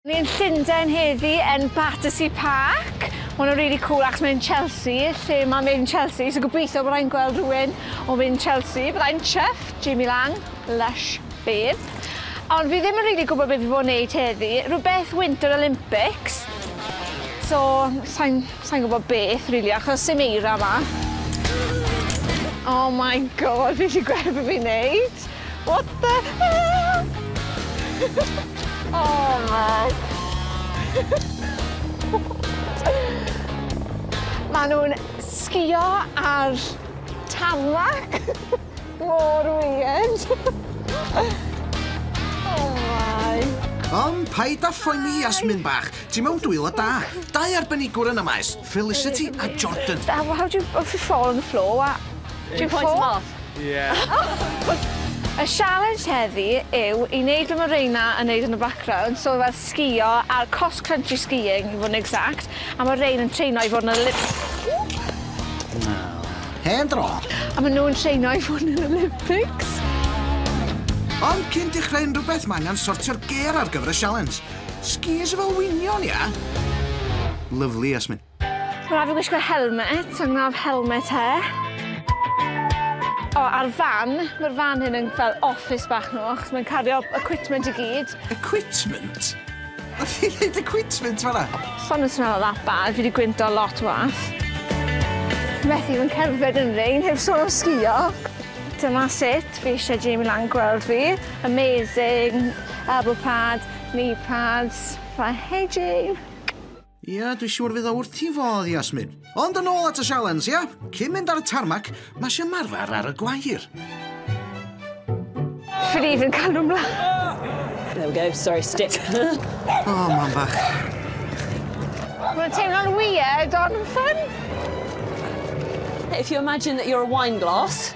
Ni yn Llundain heddi yn Battersea Park. Mae hwn yn really cool achos mae'n Chelsea, lle mae mynd Chelsea, so gobeithio bod rhaid gweld rhywun o mynd Chelsea. Byddai'n chuff, Jamie Lang, lush babe. Ond fi ddim yn really gwybod beth fi fod yn neud heddi. Rhywbeth Winter Olympics. So, sa'n sa gwybod beth, really, achos sy'n eira yma. Oh my God, fi eisiau gweld beth fi'n neud. What the hell! oh my! Maen nhw'n sgïo ar tarmac! Mor weird! oh my! Ond paid â phoeni Yasmin bach, ti mewn dwylo da. Dau arbenigwr yn y maes. Felicity a Jordan. How, how do you, if you fall on the floor, what? Do you fall? off? Yeah. Y sialens heddi yw i wneud be mae Reina yn wneud yn y background, so fel sgïo ar cross country skiing i fod yn exact, a mae Rein yn treino i fod yn y lip... Hen dro! A maen nhw'n treino i fod yn yr Olympics. Ond cyn dechrau unrhyw beth mae angen sortio'r gêr ar gyfer y sialens. Skis efo wynion ia? Lyfli Jasmin. Mae rhaid fi wisgo helmet, so I'm gonna have helmet hair. O, a'r fan, mae'r fan hyn yn fel office bach nhw, achos mae'n cario equipment i gyd. Equipment? Oedd hi'n dweud equipment fan'na? Sa'm yn swnio that bad, fi wedi gwyntog lot w'ach. Methu fy ngherdded yn rein, heb sôn am sgïo. Dyma sut fi eisiau Jamie lan gweld fi. Amazing! Elbow pads, knee pads, fy hedging! Ia, dwi siŵr fydd o wrth i fodd, Yasmin. Ond yn ôl at y sialens, ia? Cyn mynd ar y tarmac, mae eisiau marfer ar y gwair. Ffili fy cael nhw'n mlaen. There we go, sorry, stick. O, mam bach. Mae'n teimlo'n weird, ond yn ffyn. If you imagine that you're a wine glass,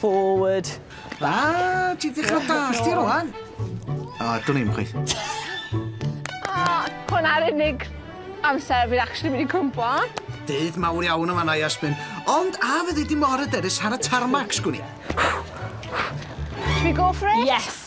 Forward. A, ti'n dechrau dall ti rwan. O, dwn i'm chweith. O, hwnna'r unig amser fi'n actually mynd i cwmpo. Dydd mawr iawn yma na Iasmin. Ond a fyddi di mor yderus ar y tarmac, sgwn i? Should we go for it? Yes.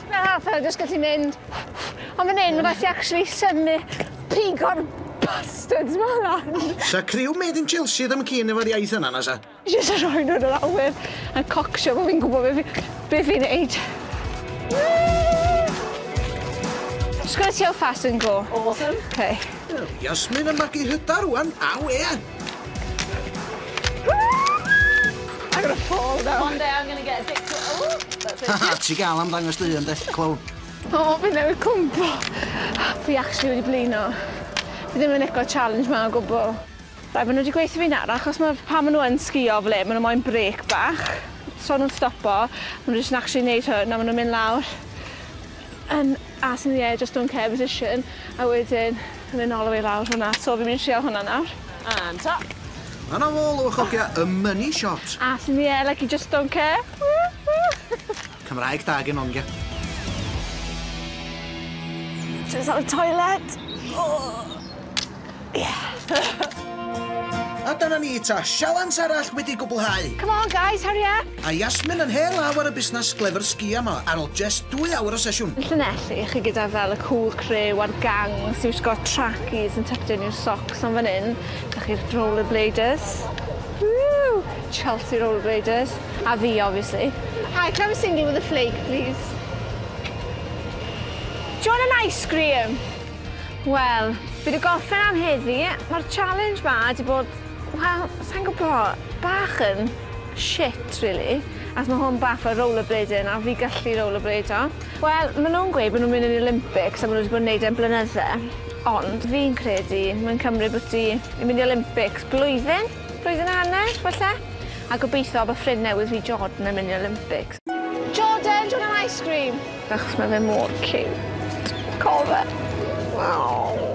Tipyn o haffa, jyst gallu mynd. Ond fan hyn, mae'n rhaid ti actually synnu pigo'r bastards ma lan. Sa criw made in Chelsea ddim yn keen efo'r iaith yna, na sa? Jyst yn rhoi nhw yn yr awyr a cocsio bod fi'n gwybod beth fi'n neud. Just gonna see how fast I can go. Awesome. Okay. Yasmin yn magu hyder rwan, aw ie! I'm gonna fall now. One day I'm gonna get addicted to oh that's it. Haha ti gal am ddangos dy hun de? Clown. O fi newydd cwmpo. Fi actually wedi blino. Fi ddim yn lico challenge ma o gwbwl. Reit ma' n'w wedi gweutho fi'n araf achos ma' pan ma' n'w yn sgïo fel 'yn ma' n'w moyn brêc bach so nw'n stopo ma' n'w jyst yn actually neud hwn a ma' nw'n mynd lawr yn As in the air just don't care position a wedyn yn mynd nôl a fi lawr hwnna so fi'n mynd i trial hwnna nawr. And ta! A na ôl o fy chogia y money shot! As in the air like you just don't care! Cymraeg da gen Onge. Just out of toilet! Ohh! A dyna ni ta, sialens arall wedi gwblhau! Come on guys, hurry up! A Yasmin yn hen law ar y busnas glefr sgïo ma ar ol jest dwy awr o sesiwn! Llanelli, chi gyda fel y cool crew a'r gangs who's got trackies and tucked in your socks on fan hyn, da chi'r rollerbladers, woo! Chelsea rollerbladers, a fi obviously. Hi, can I have a single with a flake please? Do you want an ice cream? Wel, fi 'di gorffen am heddi. Ma'r challenge 'ma 'di bod, wel, sai'n gwbo, bach yn shit rili, achos ma' hwn bach fel rollerblading a fi gallu rollerbladio. Wel, ma' nw'n gweud bo' nw'n mynd i neud Olympics a ma' n'w 'di bod yn neud e am blynydde, ond fi'n credu mae'n cymryd bo' ti yn mynd i Olympics blwyddyn, blwyddyn a hanner falle, a gobeithio bo' ffrind newydd fi Jordan yn mynd i Olympics. Jordan, do you want an ice cream? Achos mae fe mor cute. Cof e. Aww.